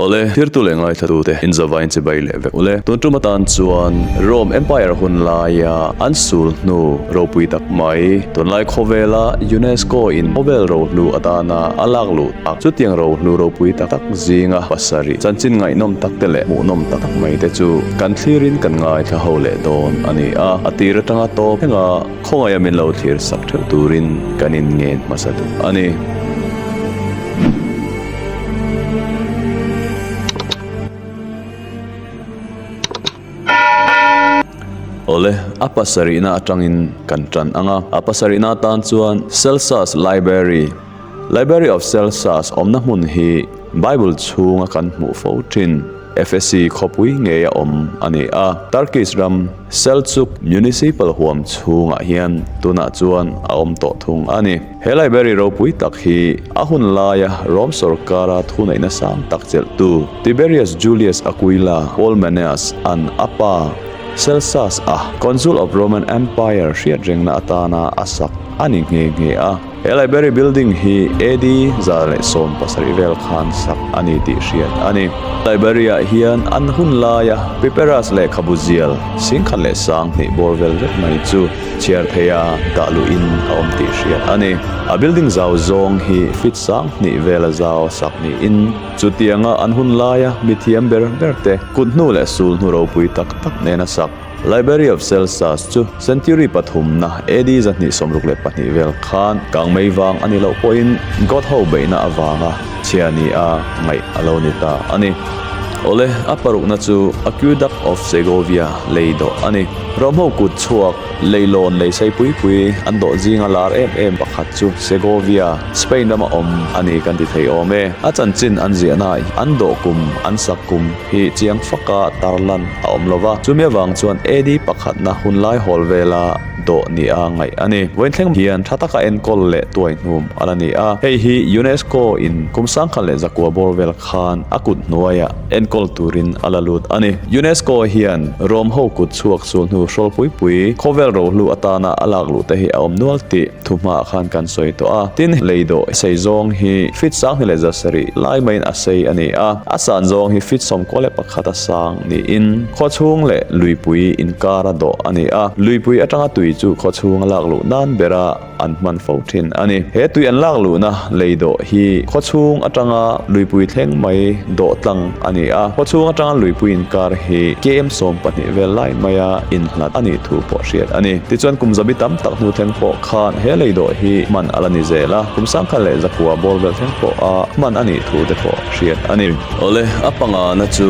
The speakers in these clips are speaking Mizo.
Awle, thirtu leh ngaithlatu'te inzava inchibai leh vek ule. Tun tum atan chuan Rome Empire hun laia an sul hnu ropui tak mai tunlai khawvela UNESCO in khawvel ro hnu atana a lak luh tak. Chutiang ro hnu ropui tak tak zinga pasarih chanchin ngaihnawm takte leh hmuhnawm tak tak maite chu kan thlirin kan ngaithla ho leh dawn a ni a, a tir atanga tawp thleng a. Khawngaia min lo thlir sak theuh turin kan in ngen hmasa duh a ni. Awle, a pasarihna atangin kan tan ang a. A pasarihna atan chuan Celsus Library, Library of Celsas awmna hmun hi Bible chhunga kan hmuh fo ṭhin Efesi khawpui ngeia awm a ni a. Turkish ram Selçuk Municipal huam chhungah hian tunah chuan a awm tawh thung a ni. He library ropui tak hi a hun laia Rom sawrkara thuneihna sang tak chelhtu Tiberius Julius Aquila Paul Menaeus an a pa Celsas a Consul of Roman Empire hriatrengna atana a sak a ni nghe nghe a. He library building hi AD zar leh sawm pasarih vel khan sak a ni tih hriat a ni. Library ah hian an hun laia Pipiras lehkhabu zial singkhat leh sang hnih bawr vel vek mai chu chhiar theih a dah luh in a awm tih hriat a ni. A building zau zawng hi fit sang hnih vel a zau a sak niin chutianga an hun laia mithiam ber ber te kut hnu leh sul hnu ropui tak tak nena sak Library of Celsus chu century pathumna AD zahnih sawmruk leh pahnih vel khan Kangmei vang a nih loh pawhin God ho beihna avanga chhia ni a ngaih a lo ni ta a ni. Awle, a parukna chu Aqueduct of Segovia lei dawh a ni. Romho kut chhuak lei lawn lei sei pui pui an dawh zinga lar em em pakhat chu Segovia, Spain rama awm a ni kan ti thei awm e. A chanchin an ziahnaah hian an dawh kum, an sak kum, hi chiang faka tarlan a awm lova chumi avang chuan AD pakhatna hunlai hawl vela dawh nia ngaih a ni. Vawinthleng hian tha taka enkawl leh tuaihnum a la ni a, hei hi UNESCO in kum sangkhat leh zakua bawr vel khan a kut hnuaia enkawl turin a la lut a ni. UNESCO hian Rome ho kut chhuak chu hnu hrawlpui pui, khawvel rohlu atana a lakluhte hi a awm nual tih. Thu hma ah khan kan sawi tawh a, tin, lei dawh a sei zawng hi fit sang hi leh zasarih lai maiin a sei a ni a, a san zawng hi fit sawmkaw leh pakhat a sang niin khaw chhung leh luipui inkar a dawh a ni a, luipui atanga tui chu khaw chhung a lak luh nan ber a an hman fo thin a ni. He tui an lak luhna lei dawh hi khaw chhung atanga luipui thleng mai dawh tlang a ni a, khaw chhung atanga luipuiin kar hi KM sawm pahnih vel lai maia innghat a nih thu pawh hriat a ni. Tichuan kum zabi tam tak hnu thleng pawh khan he lei dawh hi hman a la ni zel a, kum sangkhat leh zakhua bawr vel thleng pawh a hman a nih thu te pawh hriat a ni. Awle, a pangana chu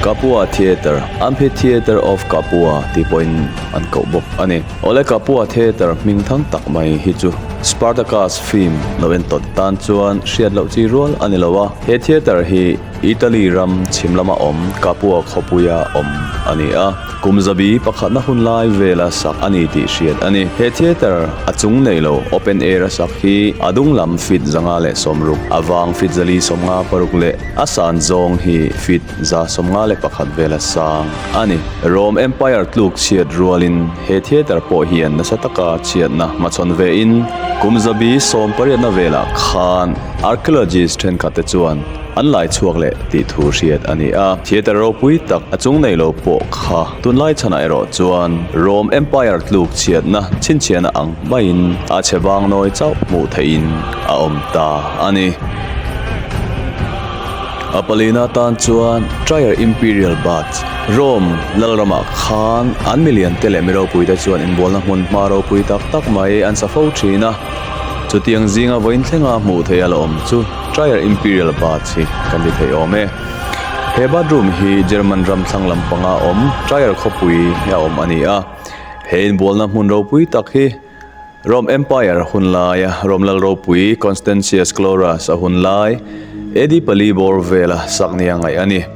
Kapua Theatre, Amphitheatre of Kapua tih pawhin an koh bawk a ni. Awle Kapua Theatre hming thang tak mai hi chu Spartacus film lo en tawt tan chuan hriat loh chi rual a ni lo a. He theatre hi Italy ram chhim lama awm Capua Khawpuia awm a ni a, kum zabi pakhatna hun lai vela sak a ni tih hriat a ni. He theatre a chung nei lo, open air a sak hi a dung lam feet zanga leh sawm ruk, a vang feet zali sawm nga paruk leh a san zawng hi feet za sawm nga leh pakhat vela sang a ni. Rome Empire tluk chhiat rualin he theatre pawh hian nasa taka chhiatna hmachhawn vein kum zabi sawm pariatna velah khan, Archaeologist thenkhatte chuan an laichhuak leh tih thu hriat a ni a. Theatre ropui tak a chung nei lo pawh kha tunlai chhanah erawh chuan Rome Empire tluk chhiatna chhinchhiahna ang hmaiin a chhe vang nawi chauh hmuh theihin a awm ta a ni. A palin atan chuan Trier Imperial Baths, Rome lal ramah khan an milian te leh mi ropuite chuan inbualna hmun hma ropui tak tak mai an sa fo thin a. Chutiang zinga vawiin thlenga hmuh theih a la awm chu Trier Imperial Baths hi kan ti thei awm e. He bathroom hi German ram thlang lampanga awm Trier khawpui a awm a ni a. He inbualna hmun ropui tak hi Rome Empire hun laia Rome lal ropui Constantius Chlorus a hun lai AD pali bawr vela sak nia ngaih a ni.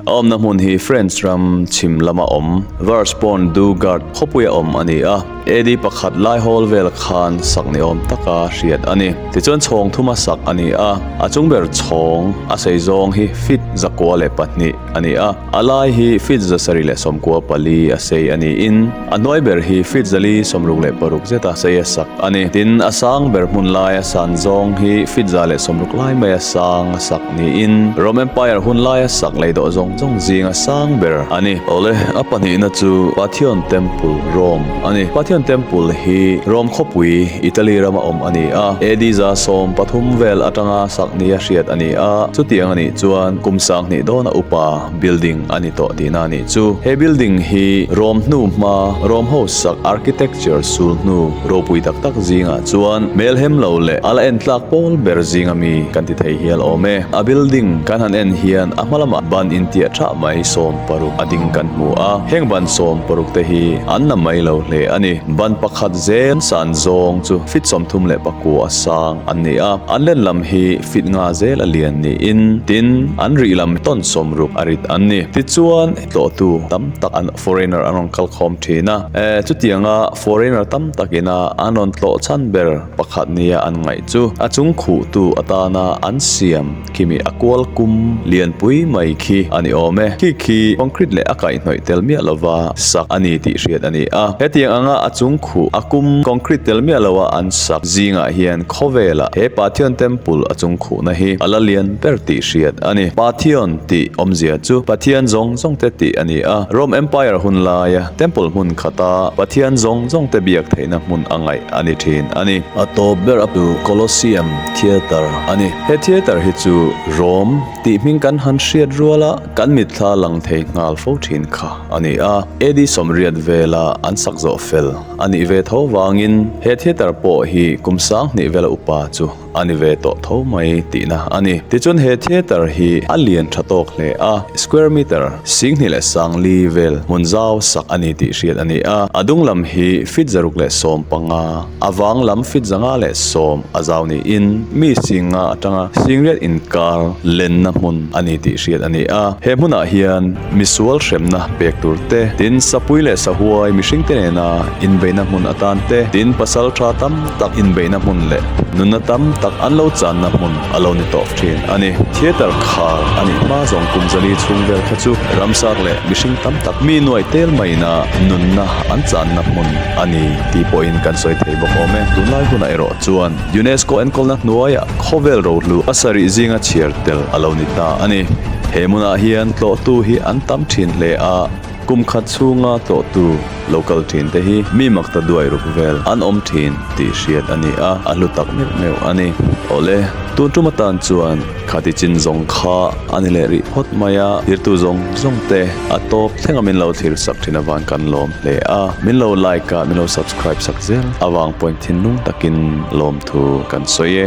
A awmna hmun hi French ram chhim lama awm Vars Pont du Gard khawpuia awm a ni a. AD pakhat lai hawl vel khan sak ni awm taka hriat a ni. Tichuan chhawng thuma sak a ni a. A chung ber chhawng a seizawng hi feet zakua leh pahnih a ni a. A lai hi feet zasarih leh sawmkua pali a sei a niin, A hnuai ber hi fit zali, sawmruk leh paruk zeta sa ia sak a ni. Tin, a sang ber hmun lai a san zawng hi fit za leh sawmruk lai mai a sang a sak niin Rome Empire hun lai a sak lei dawh zawng zawng zing a sang ber a ni. Awle, a pahnihna chu Pathion Temple, Rome, a ni. Pathion Temple hi Rome khawpui, Italy, rama awm a ni a. AD za sawm pathum vel atanga sakni a hriat a ni a. Chutiang a nih chuan kum sanghnih dawn a upa. building a ni tawh tihna a nih chu. He building hi Rome hnu hma Rome ho sak architecture sul hnu ropui tak tak zingah chuan hmelhem lo leh a la en tlak pawl ber zing a mi kan ti thei hial awm e. A building kan han en hian a hmalamah ban intiah thah mai sawm paruk a ding kan hmu a, heng ban sawm paruk te hi an na mai lo hle a ni. Ban pakhat zel san zawng chu feet sawmthum leh pakua sang an ni a, an len lam hi. fit nga zel a lian niin tin an rih lam tawn sawm ruk a rit an ni. Tichuan tlawhtu tam tak an foreigner an rawn kal khawm thin a, eh chutianga foreigner tam tak ina an rawn tlawh chhan ber pakhat nia an ngaih chu. A chung khuh tu atana an siam kimi a kual kum lian pui mai khi a ni awm e. Khi khi concrete leh a kaih hnawih tel miah lova sak a ni tih hriat a ni a. Hetiang anga a chung khuh a kum concrete tel miah loa an sak zingah hian, Khawvela he Pathian temple a chung khuhna hi a la lian ber tih hriat a ni. Pathian tih awmzia chu Pathian zawng zawng te tih a ni a. Rome Empire hun laia temple hmun khata Pathian zawng zawng te biak theihna hmun a ngaih a ni thin a ni. A tawp ber a tu Colosseum Theatre a ni. He theatre hi chu Rome tih hming kan han hriat rual a kan mit thla lang thei nghal fo thin kha a ni a. AD sawmriat vela an sak zawh fel. A nih ve tho vangin he theater pawh hi kum sang hnih vela upa chu a ni ve tawh tho mai tihna a ni. Tichuan he theater hi a lian tha tawk hle a, square metre sing hnih leh sang li vel hmun zau sak a ni tih hriat a ni a. A dung lam hi feet zaruk leh sawm panga, a vang lam feet zanga leh sawm a zau niin mi singa atanga singriat inkar lenna hmun a ni tih hriat a ni a. He hmunah hian. Misual hremna pek tur te, tin sapui leh sahuai mihring te nena inbeihna hmun atan te, tin pasal tha tam tak inbeihna hmun leh nunna tam tak an lo channa hmun a lo ni tawh thin a ni. Theatre khar a nih hma zawng Kumzali chhungvel kha chu ramsak leh mihring tam tak mi nuai tel maina nunna an channa hmun a ni tih pawhin kan sawi thei bawk awm e. Tunlai hunah erawh chuan. UNESCO enkawlna hnuaia khawvel rohlu a sarih zinga chhiar tel a lo ni ta a ni. He hmunah hian tlawhtu hi an tam thin hle a, kum khat chhunga tlawhtu lo kal thin te hi mi makta duai ruk vel an awm thin tih hriat a ni a, a hlu tak meuh meuh a ni. Awle, tun ṭum atan chuan. Khati chin zawng kha a ni leh rih phawt mai a, zirtu zawng zawng te a tawp thleng a min lo thlir sak thin avang kan lawm hle a, min lo like a min lo subscribe sak zel avang pawn thinlung takin lawmthu kan sawi e.